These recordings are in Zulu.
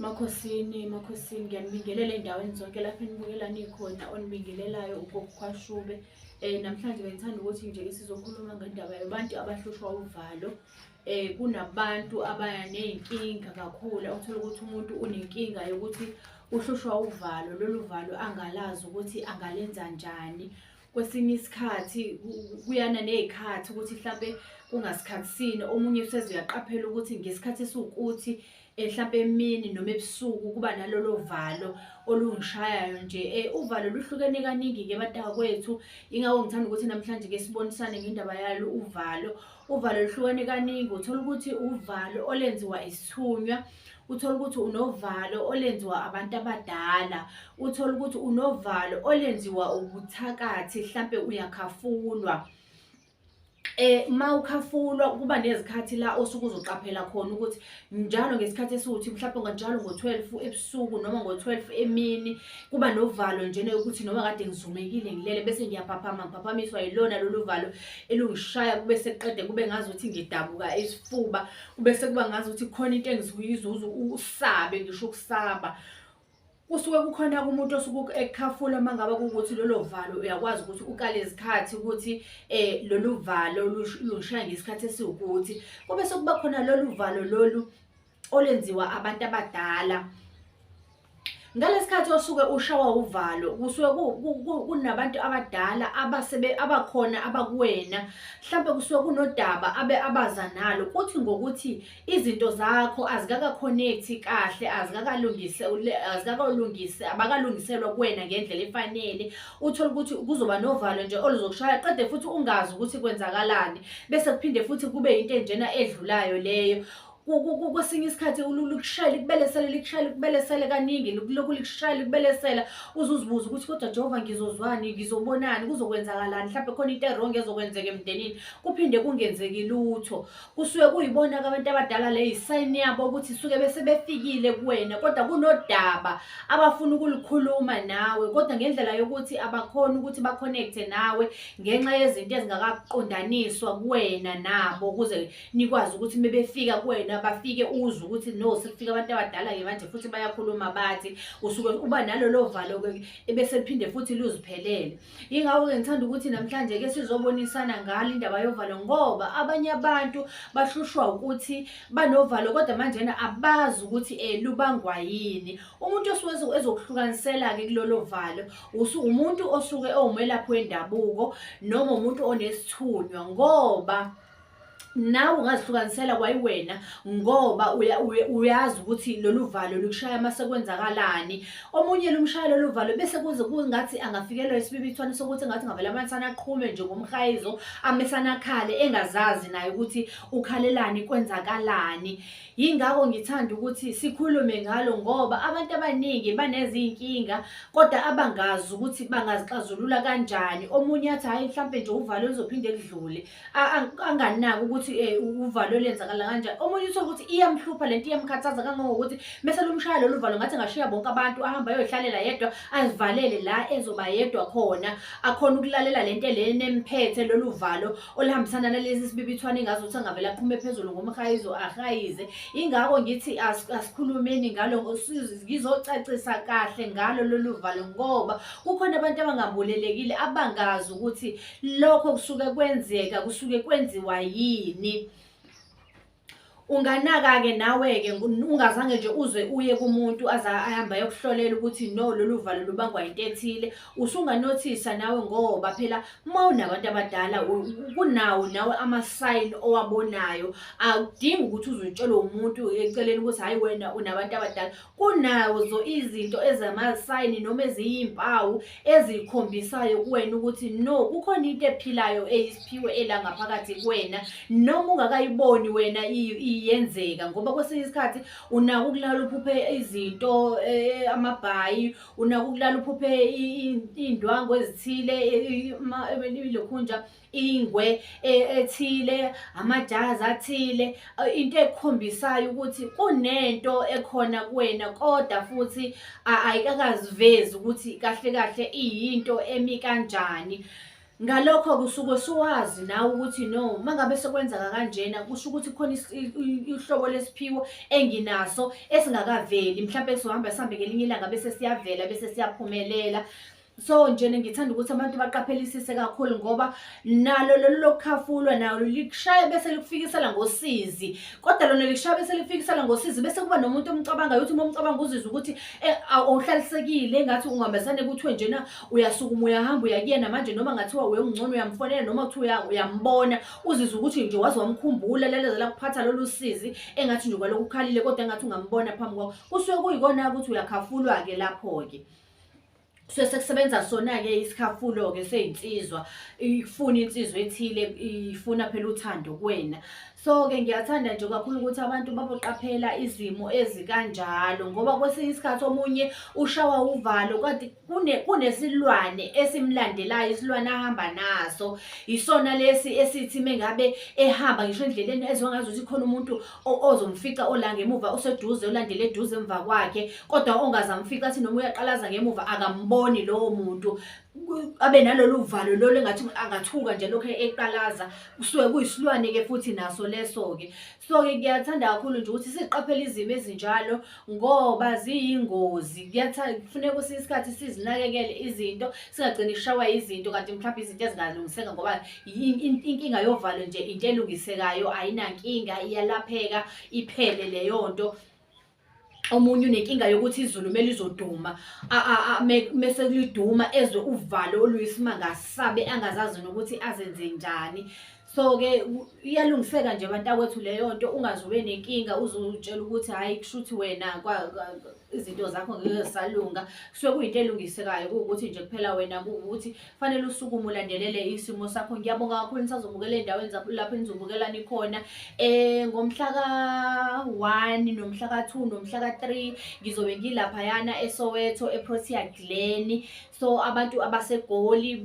Makhosini, Makhosini, ngiyanibingelela endaweni zonke lapho enibukela nikhona onibingelelayo ugokukhwashube. Um eh, namhlanje bengithanda ukuthi nje sizokhuluma ngendaba yabantu abahlushwa uvalo. Um kunabantu abaya ney'nkinga kakhulu othola ukuthi umuntu unenkinga yokuthi uhlushwa uvalo, lolu valo angalazi ukuthi angalenza njani. kwesinye isikhathi kuyana nezikhathi ukuthi mhlambe kungasikhathi sini omunye useze uyaqaphela ukuthi ngesikhathi esiwukuthi eh, mhlampe emini noma ebusuku kuba nalolo valo olungishayayo nje eh, uvalo luhlukene kaningi-ke batakwethu yingakho ngithanda ukuthi namhlanje ke sibonisane ngendaba yalo uvalo uvalo luhlukene kaningi uthola ukuthi uvalo olenziwa isithunywa uthole ukuthi unovalo olenziwa abantu abadala uthole ukuthi unovalo olenziwa ubuthakathi mhlampe uyakhafunwa eh uma ukhafulwa kuba nezikhathi la osuke uzoqaphela khona ukuthi njalo ngesikhathi esiwuthi mhlawumbe nganjalo ngo12 ebusuku noma ngo12 emini kuba novalo njena ukuthi noma kade ngizumekile ngilele bese ngiyaphaphama ngiphaphamiswa yilona lolu valo elungishaya kube seqede kube ngazi ukuthi ngidabuka isifuba Ubese kuba ngazi ukuthi khona into engizuyizuza usabe ngisho ukusaba. Kusuke kukhona umuntu osuke ekhafula uma ngabe kuwukuthi lolo valo uyakwazi ukuthi ukale izikhathi ukuthi eh lolu valo lushaya ngesikhathi esiwukuthi. Kube sekuba khona lolu valo lolu olenziwa abantu abadala. ngalesikhathi osuke ushawa uvalo kusuke kunabantu abadala abasebe abakhona abakuwena mhlawumbe kusuke kunodaba abe abaza nalo kuthi ngokuthi izinto zakho azikaka-connect kahle azikakalungise azikakalungise abakalungiselwa kuwena ngendlela efanele uthole ukuthi kuzoba novalo nje oluzokushaya qede futhi ungazi ukuthi kwenzakalani bese kuphinde futhi kube into enjena edlulayo leyo kwesinye isikhathi likushayela ikubelesele likushayela ikubelesele kaningi lokhu likushayela ikubelesela uze uzibuze ukuthi kodwa jehova ngizozwani ngizobonani kuzokwenzakalani mhlawumbe khona into erong ezokwenzeka emndenini kuphinde kungenzeki lutho kusuke kuyibona-ke abantu abadala le yisayini yabo ukuthi suke bese befikile kuwena kodwa kunodaba abafuna ukulikhuluma nawe kodwa ngendlela yokuthi abakhoni ukuthi bakhonekte nawe ngenxa yezinto ezingakaqondaniswa kuwena nabo ukuze nikwazi ukuthi mebefika kuwena bafike uzwe ukuthi no sekufika abantu abadala-ke manje futhi bayakhuluma bathi usuke uba nalolo valo-ke ebese liphinde futhi luziphelele yingakho-ke ngithanda ukuthi namhlanje-ke sizobonisana ngalo indaba yovalo ngoba abanye abantu bahlushwa ukuthi banovalo kodwa manjena abazi ukuthi um lubangwa yini umuntu osuke ezokuhlukanisela-ke kulolo valo umuntu osuke ewumelaphi wendabuko noma umuntu onesithunywa ngoba nawe ungazihlukanisela kwayiwena ngoba uyazi ukuthi lolu valo lukushaya uma sekwenzakalani omunye lumshaya lolu valo bese kuze kungathi angafikelwa isibibithwane sokuthi ngathi ngavele amanisana aqhume nje ngomhayizo amesana akhale engazazi naye ukuthi ukhalelani kwenzakalani yingakho ngithanda ukuthi sikhulume ngalo ngoba abantu abaningi banezinkinga kodwa abangazi ukuthi bangazixazulula kanjani omunye athi hhayi mhlawumpe nje uvalo luzophinde kudlule anganaki ukuthi eh, uvalo lenzakala kanjani omunye uthole ukuthi iyamhlupha lento iyamkhathaza kangangokuthi mese lumshaya lolu valo ngathi ngashiya bonke abantu ahamba ayohlalela yedwa azivalele la ezoba yedwa khona akhona ukulalela lento lena emphethe lolu valo olihambisana nalezi sibibithwane ngazo ukuthi angavele aqhume phezulu ngomhayizo ahayize ingakho ngithi asikhulumeni ngalo ngizocacisa kahle ngalo lolu valo ngoba kukhona abantu abangabulelekile abangazi ukuthi lokho kusuke kwenzeka kusuke kwenziwa yini unganaka-ke nawe-ke ungazange nje uze uye kumuntu aze ahambe ayokuhlolela ukuthi no lolu valo lubangwa yinto ethile usunganothisa nawe ngoba phela uma unabantu abadala kunawo nawe amasayini owabonayo akudingi ukuthi uzutshele umuntu eceleni ukuthi hhayi wena unabantu abadala Kunazo izinto ezamasayini noma eziyimpawu ezikhombisayo kuwena ukuthi no kukhona into ephilayo eyisiphiwe ela ngaphakathi kuwena noma ungakayiboni wena iyenzeka ngoba kwesinye isikhathi unaka ukulala uphuphe izinto eh, amabhayi unaka ukulala uphuphe iy'ndwangu ezithile ilokhunja ingwe e, ethile amajazi athile into ekhombisayo ukuthi kunento ekhona kuwena kodwa futhi ayikakazivezi ukuthi kahle kahle iyinto emi kanjani ngalokho kusuke suwazi nawe ukuthi no mangabe sekwenzeka kanjena kusho ukuthi khona ihlobo lesiphiwo enginaso esingakaveli mhlawumbe sohamba sihambe ngelinye ilanga bese siyavela bese siyaphumelela so nje ngithanda ukuthi abantu baqaphelisise kakhulu ngoba nalo lolu lokukhafulwa nalo likushaya bese likufikisela ngosizi kodwa lona likushaya bese likufikisela ngosizi bese kuba nomuntu omcabangayo ukuthi uma umcabanga uzizwa ukuthi eh, awuhlalisekile ngathi ungambesane kuthiwe njena uyasukuma uyahamba uyakuyena manje noma ngathiwa uye ungcono uyamfonela noma kuthiwa uyambona uzizwa ukuthi nje waze wamkhumbula lalezela kuphatha lolu sizi engathi nje kwalokhu ukhalile kodwa engathi ungambona phambi kwakho kusuke kuyikona ukuthi uyakhafulwa-ke lapho-ke kusuke sekusebenza sona-ke isikhafulo-ke sey'nsizwa ifuna insizwa ethile ifuna phela uthando kuwena so-ke ngiyathanda nje kakhulu ukuthi abantu baboqaphela izimo ezikanjalo ngoba kwesinye isikhathi omunye ushawa uvalo kanti kunesilwane esimlandelayo isilwane ahamba naso isona lesi esithi mengabe ehamba ngisho endleleni ezongazuthi khona umuntu ozomfica ola ngemuva oseduze olandele eduze emva kwakhe kodwa ongazamfica athi noma uyaqalaza ngemuva akamboni lowo muntu abe nalolu valo lolu engathi angathuka nje lokho eqalaza kusuke kuyisilwane-ke futhi naso leso-ke so-ke ngiyathanda kakhulu nje ukuthi siqaphele izimo ezinjalo ngoba ziyingozi kufuneka kwesinye isikhathi sizinakekele izinto singagcini ishawa izinto kanti mhlawumbe izinto ezingalungiseka ngoba inkinga yovalo nje into elungisekayo ayinankinga iyalapheka iphele leyo nto omunye unenkinga yokuthi izulu kumele izoduma mese kuliduma ezwe uvalo oluyisimanga sabe angazazi nokuthi azenze njani so-ke iyalungiseka nje bantakwethu leyo nto ungaze ube nenkinga uzutshela ukuthi hhayi kusho ukuthi wena izinto zakho ngeke zisalunga kusuke kuyinto elungisekayo kuwukuthi nje kuphela wena kuwukuthi fanele usukume ulandelele isimo sakho ngiyabonga kakhulu nisazobukela ey'ndaweni lapho enizobukela nikhona um eh, ngomhla ka-one nomhla ka-two nomhla ka-three ngizobe ngilaphayana esoweto eprotea glen so abantu abasegoli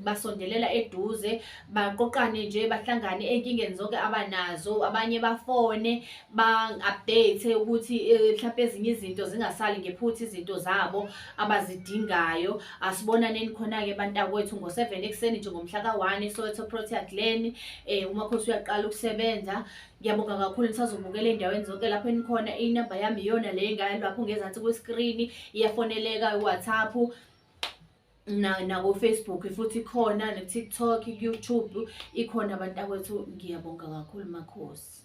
basondelela eduze baqoqane nje bahlangane enkingeni zonke abanazo abanye bafone ba-update ukuthi eh, mhlawumpe ezinye izinto zingasali ngephuthi izinto zabo abazidingayo asibonaneni khona-ke bantakwethu ngo-seven ekuseni nje ngomhla ka-one esoweto protea glen um eh, umakhosi uyaqala ukusebenza Ngiyabonga kakhulu nisazobukela endaweni zonke lapho enikhona inamba yami iyona le ngayo lapho ngezansi kwesikrini iyafoneleka iwhatsapp nakofacebook futhi khona netiktok youtube ikhona abantu akwethu ngiyabonga kakhulu makhosi